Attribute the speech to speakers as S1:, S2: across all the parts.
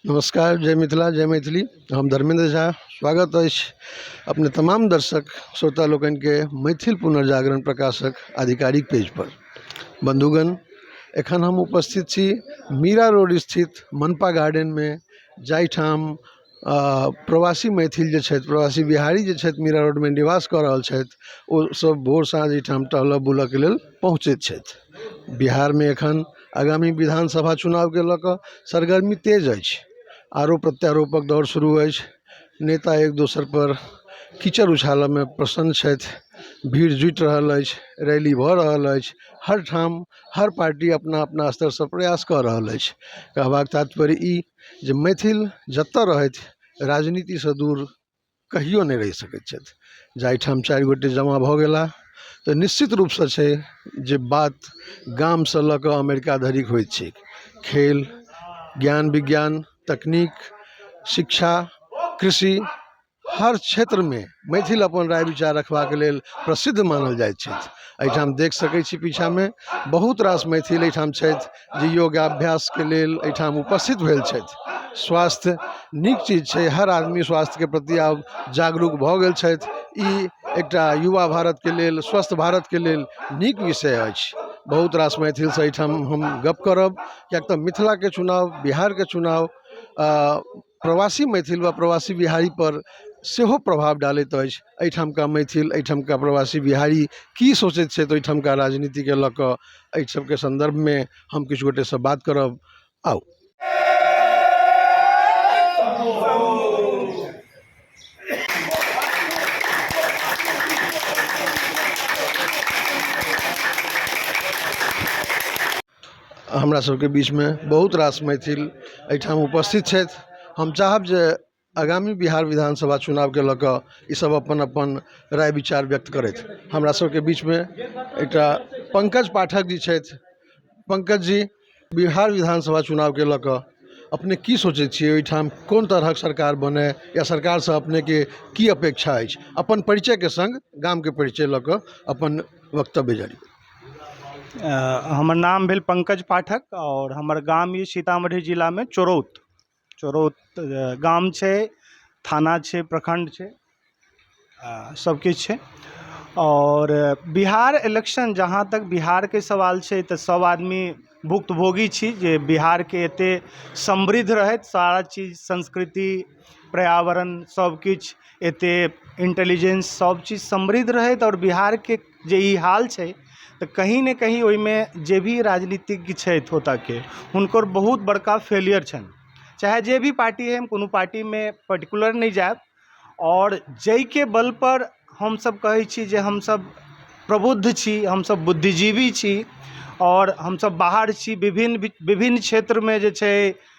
S1: नमस्कार जय मिथिला जय मैथिली हम धर्मेंद्र झा स्वागत अछि अपने तमाम दर्शक श्रोता लोकनि के मैथिल पुनर्जागरण प्रकाशक आधिकारिक पेज पर बंधुगण एखन हम उपस्थित छी मीरा रोड स्थित मनपा गार्डन में जाहिठाम प्रवासी मैथिल जे छथि प्रवासी बिहारी जे छथि मीरा रोडमे निवास कऽ रहल छथि ओ सभ भोर साँझ एहिठाम टहलऽ बुलऽके लेल पहुँचैत छथि बिहारमे एखन आगामी विधान सभा चुनावके लऽ कऽ सरगर्मी तेज अछि आरोप प्रत्यारोपक दौर शुरू अछि नेता एक दोसर पर कीचड़ उछालऽमे प्रसन्न छथि भीड़ जुटि रहल अछि रैली भऽ रहल अछि हर ठाम हर पार्टी अपना अपना स्तरसँ प्रयास कऽ रहल अछि कहबाक तात्पर्य ई जे मैथिल जतऽ रहथि राजनीतिसँ दूर कहिओ नहि रहि सकै छथि जाहिठाम चारि गोटे जमा भऽ गेलाह तऽ निश्चित रूपसँ छै जे बात गामसँ लऽ कऽ अमेरिका धरिक होइ छै खेल ज्ञान विज्ञान तकनीक शिक्षा कृषि हर क्षेत्रमे मैथिल अपन राय विचार रखबाके लेल प्रसिद्ध मानल जाइत छथि एहिठाम देखि सकैत छी पीछाँमे बहुत रास मैथिल एहिठाम छथि जे योगाभ्यासके लेल एहिठाम उपस्थित भेल छथि स्वास्थ्य नीक चीज छै हर आदमी स्वास्थ्यके प्रति आब जागरूक भऽ गेल छथि ई एकटा युवा भारतके लेल स्वस्थ भारतके लेल नीक विषय अछि बहुत रास मैथिलसँ एहिठाम हम गप करब किएक तऽ मिथिलाके चुनाओ बिहारके चुनाओ प्रवासी मैथिल वा प्रवासी बिहारी पर सेहो प्रभाव डालैत अछि एहिठामका मैथिल एहिठामका प्रवासी बिहारी की सोचैत छथि ओहिठामका राजनीतिके लऽ कऽ एहि सभके सन्दर्भमे हम किछु गोटे से बात करब आउ हमरा सबके बीचमे बहुत रास मैथिल अइठाम उपस्थित छथि हम चाहब जे आगामी बिहार विधानसभा चुनावके लऽ कऽ ई सब अपन अपन राय विचार व्यक्त करथि हमरा सबके बीचमे एकटा पङ्कज पाठक जी छथि पङ्कज जी बिहार विधानसभा चुनावके लऽ कऽ अपने की सोचय छियै अइठाम कोन तरहक सरकार बनय या सरकारसँ अपनेके की अपेक्षा अछि अपन परिचयके सङ्ग गामके परिचय लऽ कऽ अपन वक्तव्य जारी करू
S2: हमर नाम भेल पंकज पाठक आओर हमर गाम यऽ सीतामढ़ी जिलामे चोरौत चोरौत गाम छै थाना छै प्रखण्ड छै आ सब किछु छै आओर बिहार इलेक्शन जहाँ तक बिहारके सवाल छै तऽ सब आदमी भुक्तभोगी छी जे बिहारके एते समृद्ध रहैत सारा चीज संस्कृति पर्यावरण सब किछु एते इन्टेलिजेंस सब चीज समृद्ध रहैत आओर बिहारके जे ई हाल छै तऽ कहीं ने कहीं ओहिमे जे भी राजनीतिज्ञ छथि ओतऽ के हुनकर बहुत बड़का फेलियर छनि चाहे जे भी पार्टी होइ हम कोनो पार्टीमे पर्टिकुलर नहि जायब आओर जाहिके बल पर हमसब कहै छी जे हमसब प्रबुद्ध छी हमसब बुद्धिजीवी छी आओर हमसब बाहर छी विभिन्न विभिन्न क्षेत्रमे जे छै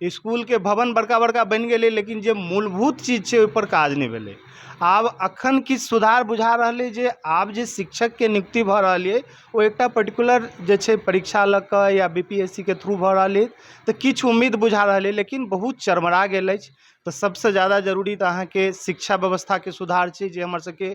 S2: इसकुलके भवन बड़का बड़का बनि गेलै लेकिन जे मूलभूत चीज छै ओहिपर काज नहि भेलै आब अखन किछु सुधार बुझा रहलै जे आब जे शिक्षकके नियुक्ति भऽ रहल अछि ओ एकटा पर्टिकुलर जे छै परीक्षा लऽ कऽ या बी पी एस सी के थ्रू भऽ रहल अछि तऽ किछु उम्मीद बुझा रहल अछि लेकिन बहुत चरमरा गेल अछि तऽ सभसँ जादा जरूरी तऽ अहाँके शिक्षा व्यवस्थाके सुधार छै जे हमर सभके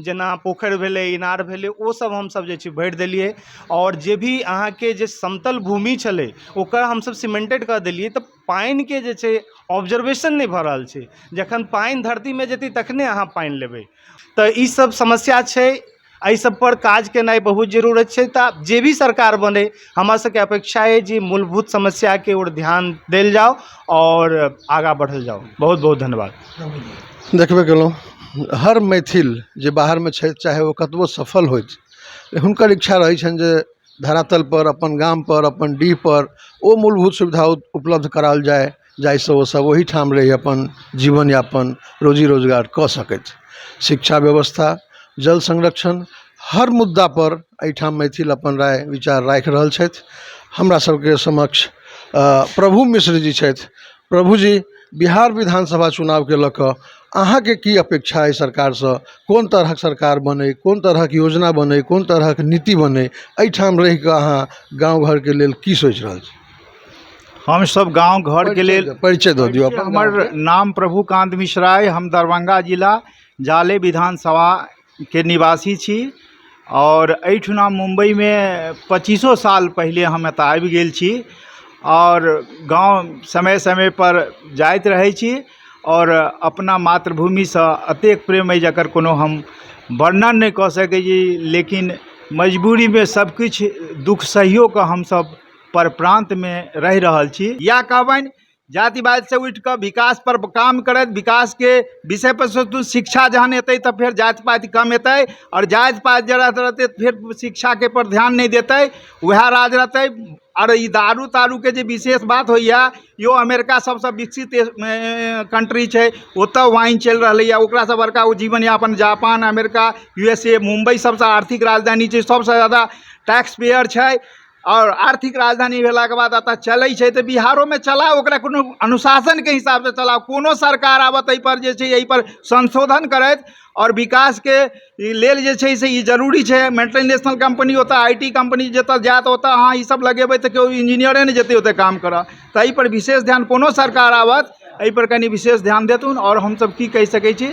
S2: जेना पोखरि भेलै इनार भेलै ओ सब हमसब जे छै भरि देलियै आओर जे भी अहाँके जे समतल भूमि छलै ओकर हमसब सिमेंटेड कऽ देलियै तऽ पानिके जे छै ऑब्जर्वेशन नहि भऽ रहल छै जखन पानि धरतीमे जेतै तखने अहाँ पानि लेबै तऽ ई सब समस्या छै एहि सब पर काज केनाइ बहुत जरूरत छै तऽ जे भी सरकार बनै हमरा सबके अपेक्षा अछि जे मूलभूत समस्याके ओर ध्यान देल जाउ आओर आगा बढ़ल जाउ बहुत बहुत धन्यवाद देखबे कयलहुँ
S1: हर मैथिल जे बाहरमे छथि चाहे ओ कतबो सफल होथि हुनकर इच्छा रहैत छनि जे धरातल पर अपन गाम पर अपन डीह पर ओ मूलभूत सुविधा उपलब्ध कराओल जाय जाहिसँ ओ सभ ओहिठाम रहि अपन जीवन यापन रोजी रोजगार कऽ सकथि शिक्षा व्यवस्था जल संरक्षण हर मुद्दा पर एहिठाम मैथिल अपन राय विचार राखि रहल छथि हमरा सभके समक्ष प्रभु मिश्र जी छथि प्रभु जी बिहार विधानसभा चुनावके लऽ कऽ अहाँके की अपेक्षा अछि सरकारसँ कोन तरहक सरकार बनै कोन तरहक योजना बनै कोन तरहक नीति बनै एहिठाम रहिकऽ अहाँ गाँव घरके लेल की सोचि रहल छी हमसभ
S3: गाँव घरके लेल परिचय दऽ दियौ अपन हमर
S1: नाम
S3: प्रभुकान्त मिश्रा अइ हम दरभंगा जिला जाले विधानसभाके निवासी छी आओर एहिठुना मुम्बइमे पच्चीसो साल पहिले हम एतय आबि गेल छी आओर गाँव समय समयपर जाइत रहै छी आओर अपना मातृभूमिसँ एतेक प्रेम अइ जकर कोनो हम वर्णन नहि कऽ सकै छी लेकिन मजबूरीमे सभकिछु दुःख सहिओ कऽ हमसभ पर प्रान्त मे रहि रहल छी इएह कहबनि जातिवाद से उठि कऽ विकास पर काम करैत विकास के विषय पर सोचू शिक्षा जहन एतै तऽ फेर जाति पाति कम एतै आओर जाति पाति जे रहतै फेर शिक्षा के पर ध्यान नहि देतै वएह राज रहतै आओर ई दारू तारू के जे विशेष बात होइया यौ अमेरिका सबसँ विकसित कंट्री छै ओतऽ वाइन चलि रहलैया ओकरा सँ बड़का ओ जीवन यापन Japan America U S A Mumbai सबसँ आर्थिक राजधानी छै सबसँ जादा टैक्स पेयर छै आओर आर्थिक राजधानी भेलाके बाद एतऽ चलै छै तऽ बिहारोमे चलाउ ओकरा कोनो अनुशासनके हिसाबसँ चलाउ कोनो सरकार आबऽ तै पर जे छै अइपर संशोधन करथि आओर विकासके लेल जे छै से ई जरूरी छै मल्टीनेशनल कम्पनी ओतऽ आइ टी कम्पनी जतऽ जायत ओतऽ अहाँ ई सब लगेबै तऽ केओ इन्जीनियरे नहि जेतै ओतऽ काम करऽ तैपर विशेष ध्यान कोनो सरकार आबथि अइपर कनी विशेष ध्यान देथुन आओर हमसब की कहि सकै छी